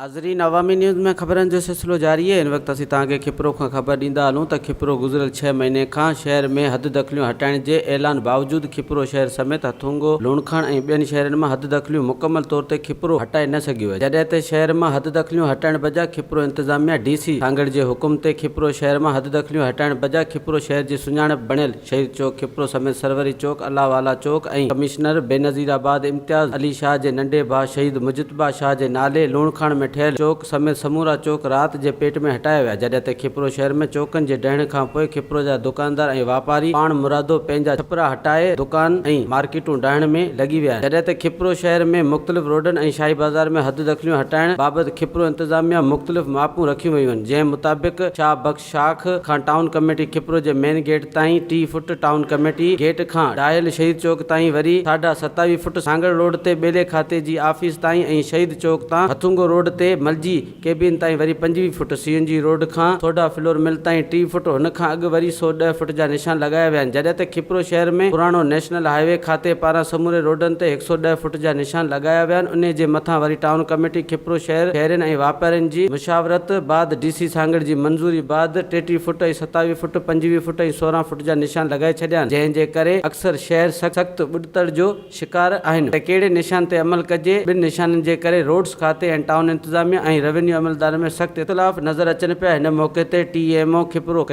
ناظرين عوامي نيوز ۾ خبرن جو سلسلو جاري آهي هن وقت اسين توهان کي کپرو کان خبر ڏيندا هلون ته کپرو گذريل ڇهه مهيني کان شهر ۾ حد دخليون هٽائڻ جي اعلان باوجود کپرو شهر سميت هٿونگو لوڻڪاڻ ۽ ٻين شهرن مان حد دخليون مڪمل طور تي کپرو هٽائي نه سگهيو آهي جڏهن ته شهر مان حد دخليون هٽائڻ بجا کپرو انتظاميا ڊي سي سانگهڙ جي حڪم تي کپرو شهر مان حد دخليون هٽائڻ بجا کپرو شهر جي سڃاڻپ بڻيل شهيد چوڪ کپرو سميت سروري چوڪ، الله والا چوڪ ۽ ڪمشنر بينظير آباد امتياز علي شاهه جي ننڍي ڀاء شهيد مجتبيٰ شاهه جي نالي لوڻڪاڻ ۾ ٺهيل چوڪ سميت سمورا چوڪ رات جي پيٽ ۾ هٽايا ويا جڏهن ته کپرو شهر ۾ چوڪن جي ڊهڻ کان پوء کپرو جا دڪاندار ۽ واپاري پاڻ مرادو پنهنجا ڇپرا هٽائي دڪان ۽ مارڪيٽون ڊاهڻ ۾ لڳي ويا آهن جڏهن ته کپرو شهر ۾ مختلف روڊن ۽ شاهي بازار ۾ حد دخليون هٽائڻ بابت کپرو انتظاميا مختلف ماپون رکيون ويون آهن جنهن مطابق شاهه بخش شاخ کان ٽائون ڪميٽي کپرو جي مين گيٽ تائين ٽي فٽ، ٽائون ڪميٽي گيٽ کان ڊاهل شهيد چوڪ تائين وري ساڍا ستاويهه فٽ، سانگهڙ روڊ تي ٻيلي کاتي جي آفيس تائين ۽ شهيد چوڪ تان هٿونگو روڊ تي ملجي ڪيبين تائين وري پنجويهه feet, C N G road کان سوڍا فلور مل تائين ٽي فٽ، هن کان اڳ وري سؤ ڏهه فٽ جا نشان لڳايا ويا آهن جڏهن ته کپرو شهر ۾ پراڻو نيشنل هاء وي کاتي پاران سموري روڊن تي هڪ سؤ ڏهه فٽ جا نشان لڳايا ويا آهن انهي جي مٿان وري ٽائون ڪميٽي کپرو شهر شهرين ۽ واپارين جي مشاورت بعد ڊي سي سانگهڙ جي منظوري بعد ٽيٽيهه فوٽ ۽ ستاويهه فوٽ پنجويهه فوٽ ۽ سورهن فوٽ جا نشان لڳائي ڇڏيا آهن جنهن جي ڪري اڪثر شهر سخت ٻڏتڙ جو شڪار آهن ته ڪهڙي نشان تي عمل ڪجي ٻن نشانن جي ڪري روڊز کاتي ۽ ٽائون انتظاميه ۽ روينيو عملدارن ۾ سخت اختلاف نظر اچن پيا هن موقعي تي ٽي ايم او کپرو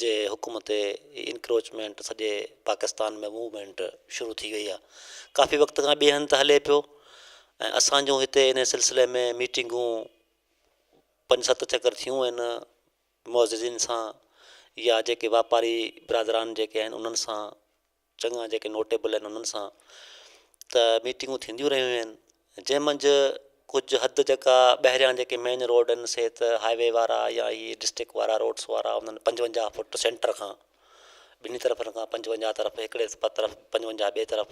جي حڪم تي انڪروچمينٽ سڄي پاڪستان ۾ موومينٽ شروع ٿي وئي آهي ڪافي وقت کان ٻئي هنڌ هلي پيو ۽ اسان جون هتي ان سلسلي ۾ ميٽنگون پنج ست چڪر ٿيون آهن معززين سان يا جيڪي واپاري برادران جيڪي آهن انهن سان چڱا جيڪي نوٽيبل آهن انهن سان ته ميٽنگون ٿينديون رهيون آهن جنهن منجهه ڪجهه حد جيڪا ٻاهريان جيڪي مين روڊ آهن سي ته هاء وي وارا يا هي ڊسٽرڪٽ وارا روڊس وارا انهن پنجونجاهه فوٽ سينٽر کان ٻنهي طرفن کان پنجونجاهه طرف هڪڙي طرف پنجونجاهه ٻئي طرف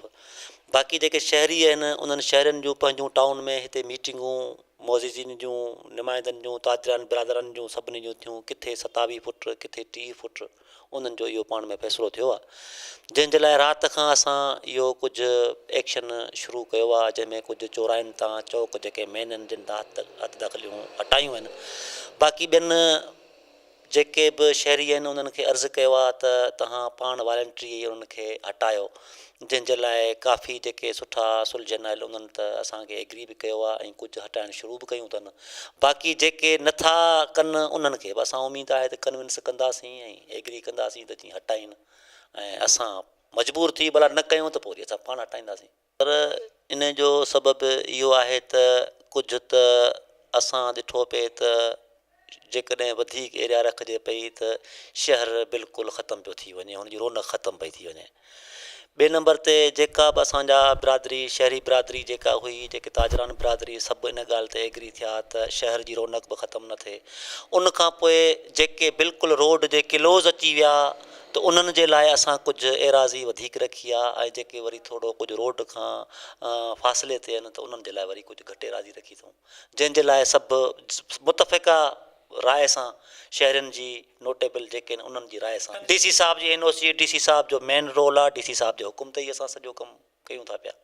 باقي جيڪي شهري آهن انهن شهرين جون پنهنجون ٽائون ۾ هتي ميٽنگون معززين جون نمائندن جون تاجرن برادرن جون سڀني جون ٿيون ڪٿي ستاويهه فوٽ ڪٿي ٽيهه فوٽ انهن جو اهو پاڻ ۾ فيصلو ٿيو آهي جنهن جي لاء رات کان اسان اهو ڪجهه ايڪشن شروع ڪيو آهي جنهن ۾ ڪجهه چوراهين تان چوڪ جيڪي مين آهن جن تان هٿ دخليون هٽايون آهن باقي ٻين جيڪي به شهري آهن انهن کي عرض ڪيو آهي ته تهان پاڻ والنٽري انهن کي هٽايو جنهن جي لاء ڪافي جيڪي سٺا سلجهن آيل انهن ته اسان کي ايگري به ڪيو آهي ۽ ڪجهه هٽائڻ شروع به ڪيون اٿن باقي جيڪي نٿا ڪن انهن کي به اسان اميد آهي ته ڪنونس ڪنداسين ۽ ايگري ڪنداسين ته جيئن هٽائين ۽ اسان مجبور ٿي ڀلا نه ڪيون ته پوء وري اسان پاڻ هٽائينداسين. پر ان جو سبب اهو آهي ته ڪجهه ته اسان ڏٺو پئي ته جيڪڏهن وڌيڪ ايريا رکجي پئي ته شهر بلڪل ختم پيو ٿي وڃي هن جي رونق ختم پئي ٿي وڃي ٻئي نمبر تي جيڪا به اسان جا برادري شهري برادري جيڪا هئي جيڪي تاجران برادري سڀ ان ڳالهه تي ايگري ٿيا ته شهر جي رونق به ختم نه ٿئي ان کان پوء جيڪي بلڪل روڊ جي ڪلوز اچي ويا ته انهن جي لاء اسان ڪجهه ايراضي وڌيڪ رکي آ ۽ جيڪي وري ٿورو ڪجهه روڊ کان فاصلي تي آهن ته انهن جي لاء وري ڪجهه گهٽ ايراضي رکي اٿئون جنهن جي لاء سڀ متفقه راء سان شهرين جي نوٽيبل جيڪي آهن انهن جي راء سان ڊي سي صاحب جي اين او سي جي ڊي سي صاحب جو مين رول آهي ڊي سي صاحب جي حڪم تي ئي اسان سڄو ڪم ڪيون ٿا پيا.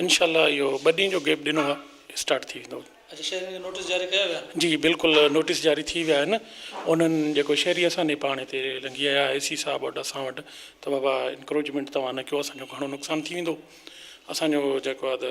انشاء الله اهو ٻه ڏينهن جو گيپ ڏنو آهي اسٽارٽ ٿي ويندو. اچا شهرين کي نوٽيس جاري ڪيا ويا آهن. جي بلڪل نوٽيس جاري ٿي ويا آهن انهن جيڪو شهري اسان ڏي پاڻ هتي لنگهي آيا اي سي صاحب وٽ اسان وٽ ته بابا انڪروچمينٽ توهان نه ڪيو اسان جو گهڻو نقصان ٿي ويندو اسان جو جيڪو آهي ته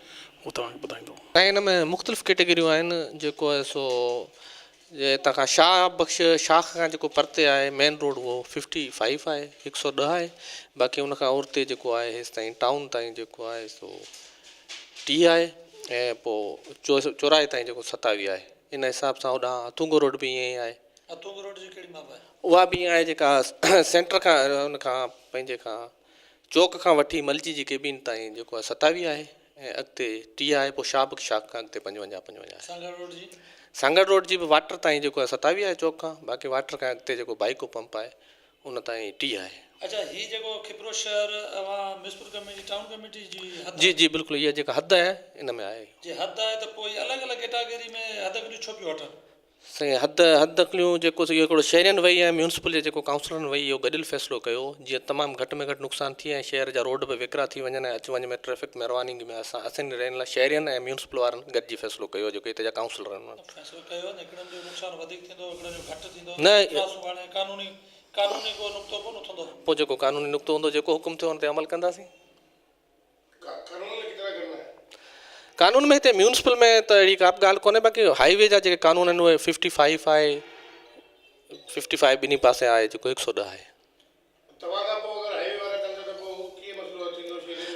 هو توهان کي ٻڌائيندو. ۽ ان ۾ مختلف ڪيٽيگريون آهن جيڪو آهي سو جي هتان کان شاهه بخش شاخ کان جيڪو پرتي آهي مين روڊ اهو ففٽي فائيو آهي هڪ سؤ ڏهه آهي باقي ان کان اورتي جيڪو آهي هيستائين ٽائون تائين جيڪو آهي سو ٽيهه آهي ۽ پوء چوراهي تائين جيڪو ستاويهه آهي ان حساب سان هوڏانهن هٿونگو روڊ به ائين ئي آهي. هٿونگو روڊ جي ڪهڙي ماپ آهي؟ اها به ائين آهي جيڪا سينٽر کان ان کان پنهنجي کان چوڪ کان وٺي ملجي جي ڪيبين تائين جيڪو آهي ستاويهه آهي ۽ اڳتي ٽيهه آهي پوء شابڪ شاخ کان اڳتي پنجونجاهه پنجونجاهه آهي. سانگهڙ روڊ جي؟ سانگهڙ روڊ جي به واٽر تائين جيڪو آهي ستاويهه آهي چوڪ کان باقي واٽر کان اڳتي جيڪو بائيڪو پمپ آهي ان تائين ٽيهه آهي. اڇا هي جيڪو کپرو شهر اوهان ميسپور ڪميٽي ٽائون ڪميٽي جي حد آهي؟ جي جي بلڪل اها جيڪا حد آهي ان ۾ آهي اهو. جي حد آهي ته پوء الڳ الڳ ڪيٽاگري ۾ حد گڏيون ڇو پيون وٺن؟ سائين حد حد نڪليون جيڪو سو اهو هڪڙو شهرين وئي ۽ ميونسپل جي جيڪو ڪائونسلرن وئي اهو گڏيل فيصلو ڪيو جيئن تمام گهٽ ۾ گهٽ نقصان ٿئي ۽ شهر جا روڊ به ويڪرا ٿي وڃن ۽ اچ وڃ ۾ ٽريفڪ ۾ روانگي ۾ اسان اسين رين لا شهرين ۽ ميونسپل وارن گڏجي فيصلو ڪيو جيڪو هتي جا ڪائونسلرن ون فيصلو ڪيو ته هڪڙن جو نقصان وڌيڪ ٿيندو هڪڙن جو گهٽ ٿيندو نه اترا سو هاڻي قانوني قانوني ڪو نقطو ڪون اٿندو. پوء جيڪو قانوني نقطو هوندو جيڪو حڪم ٿيو ان تي عمل ڪنداسين. قانون ۾ هتي ميونسپل ۾ ته اهڙي ڪا به ڳالهه ڪونهي باقي هائي وي جا جيڪي قانون آهن اهي ففٽي فائيف آهي ففٽي فائيف ٻنهي پاسي آهي جيڪو هڪ سو ڏهه آهي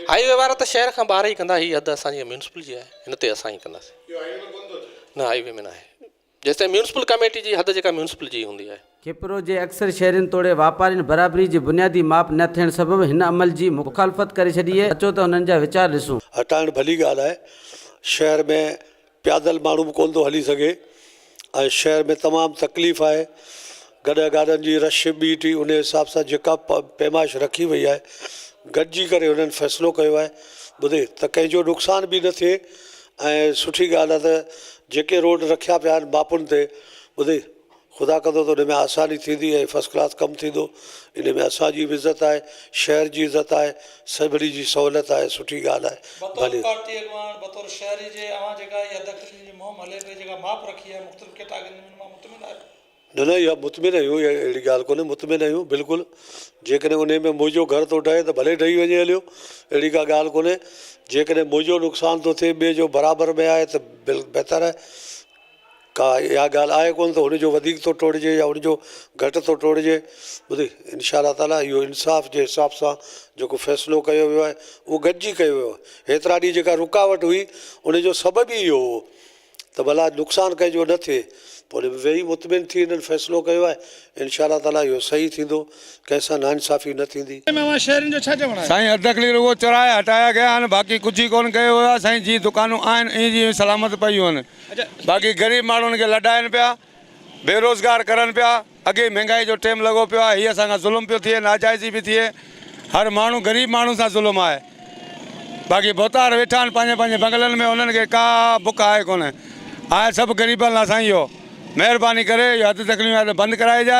هائي وي وارا ته شهر کان ٻاهر ئي ڪندا هي حد اسانجي ميونسپل جي آهي هن تي اسان ئي ڪنداسين نه هائي وي ۾ ناهي جيستائين ميونسپل ڪاميٽي جي حد جيڪا ميونسپل جي ئي هوندي آهي. کيپرو جي اڪثر شهرين توڙي واپارين برابري جي بنيادي ماپ نه ٿيڻ سبب هن عمل جي مخالفت ڪري ڇڏي هي اچو ته انهن جا ويچار ڏسون. هٽائڻ ڀلي ڳالهه آهي. شهر ۾ پيادل ماڻهو به ڪونه ٿو هلي سگهي ۽ شهر ۾ تمام تڪليف آهي. گڏهه گاڏن جي رش ٻي ٽي انهي حساب سان جيڪا پيمائش رکي وئي آهي گڏجي ڪري هنن فيصلو ڪيو آهي ٻڌي ته ڪنهن جو نقصان به نه ٿئي. ۽ سٺي ڳالهه آهي ته جيڪي روڊ رکيا پيا آهن ماپن تي ٻڌي خدا ڪندو ته ان ۾ آساني ٿيندي ۽ فرسٽ ڪلاس ڪم ٿيندو ان ۾ اسان جي به عزت آهي شهر جي عزت آهي سڀني جي سهولت آهي سٺي ڳالهه آهي بطور ڀلي پارٽي اڳواڻ بطور شهري جي اوهان جيڪا اها دخلي جي مهم هلي پئي جيڪا ماپ رکي آهي مختلف ڪيٽاگرين ۾ ان مان مطمئن آهيو؟ نه نه اها مطمئن آهيون اها اهڙي ڳالهه ڪونهي مطمئن آهيون بلڪل جيڪڏهن انهي ۾ منهنجو گهر ٿو ڊهي ته ڀلي ڊهي وڃي هليو اهڙي ڪا ڳالهه ڪونهي جيڪڏهن منهنجو نقصان ٿو ٿئي ٻئي جو برابر ۾ آهي ته بهتر آهي ڪا اها ڳالهه آهي ڪونهي ته هنجو وڌيڪ ٿو ٽوڙجي يا هنجو گهٽ ٿو ٽوڙجي ٻڌي انشاء الله تعالٰي اهو انصاف جي حساب سان جيڪو فيصلو ڪيو ويو آهي اهو گڏجي ڪيو ويو آهي هيترا ڏينهن جيڪا رڪاوٽ هئي انجو سبب ئي اهو هو ته ڀلا نقصان ڪنهن جو نه ٿئي. پوء ان ۾ ويهي مطمئن ٿي هنن فيصلو ڪيو آهي. انشاء الله تعاليٰ اهو صحيح ٿيندو. ڪنهن سان ناانصافي نه ٿيندي. سائين اڌ اڪلي رڳو چوراها هٽايا گيا آهن باقي ڪجهه ئي ڪون ڪيو ويو آهي سائين جيئن دڪانون آهن ائين جيئن سلامت پيون آهن باقي غريب ماڻهن کي لڏائين پيا. بيروزگار ڪرن پيا، اڳيئي مھنگائي جو ٽيم لڳو پيو آھي، ھي اسان کان ظلم پيو ٿئي، ناجائزي پي ٿئي، ھر ماڻھو غريب ماڻھو سان ظلم آھي، باقي ڀوتار ويٺا آھن پنھنجي پنھنجي بنگلن ۾ انھن کي ڪا بک آھي ڪونھي، آھي سڀ غريبن لا سائين اھو، مھرباني ڪري اھي حد تڪليون بند ڪرائجي.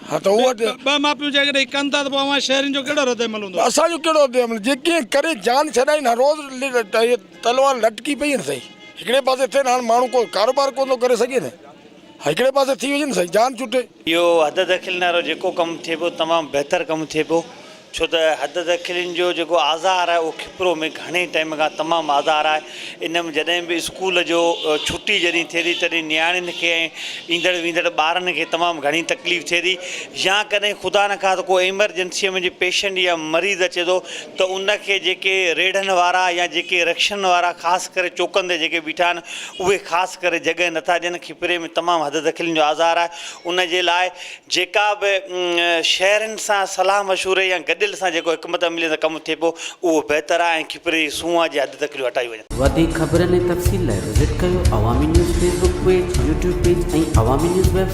ها ته هو ته. ٻه ماپيون جيڪڏهن هي ڪن ٿا ته پوء اوهان شهرين جو ڪهڙو رد عمل هوندو؟ اسان جو ڪهڙو رد عمل؟ جي ڪنهن ڪري جان ڇڏائين ها روز تلوار لٽڪي پئي ها سائين هڪڙي پاسي ٿين هاڻ ماڻهو ڪو ڪاروبار ڪونه ٿو ڪري سگهي نه هڪڙي پاسي ٿي وڃن سائين جان چٽي. اهو حد دخيل نارو جيڪو ڪم ٿئي پيو تمام بهتر ڪم ٿئي پيو ڇو ته حد ته کلين جو جيڪو آزار آهي اهو کپرو ۾ گهڻي ٽائيم کان تمام آزار آهي ان ۾ جڏهن به اسڪول جو ڇٽي جڏهن ٿئي ٿي تڏهن نياڻين کي ۽ ايندڙ ويندڙ ٻارن کي تمام گهڻي تڪليف ٿئي ٿي يا ڪڏهن خدا نه خاص ڪو ايمرجنسيء ۾ جي پيشنٽ يا مريض اچي ٿو ته ان کي جيڪي ريڙهن وارا يا جيڪي رڪشن وارا خاص ڪري چوڪن تي جيڪي بيٺا آهن اهي خاص ڪري جڳهه نٿا ڏين کپري ۾ تمام حد ته کلين جو آزار آهي ان جي لاء جيڪا به شهرين سان صلاح مشوري يا گڏيل سان جيڪو حڪمت عمليء سان ڪم ٿئي پو اهو بهتر آهي ۽ کپري جي سونهن جي حد تڪليون هٽايون وڃن. وڌيڪ خبرن ۽ تفصيل لاء وزٽ ڪيو Awami news Facebook page, YouTube page ۽ Awami news web site.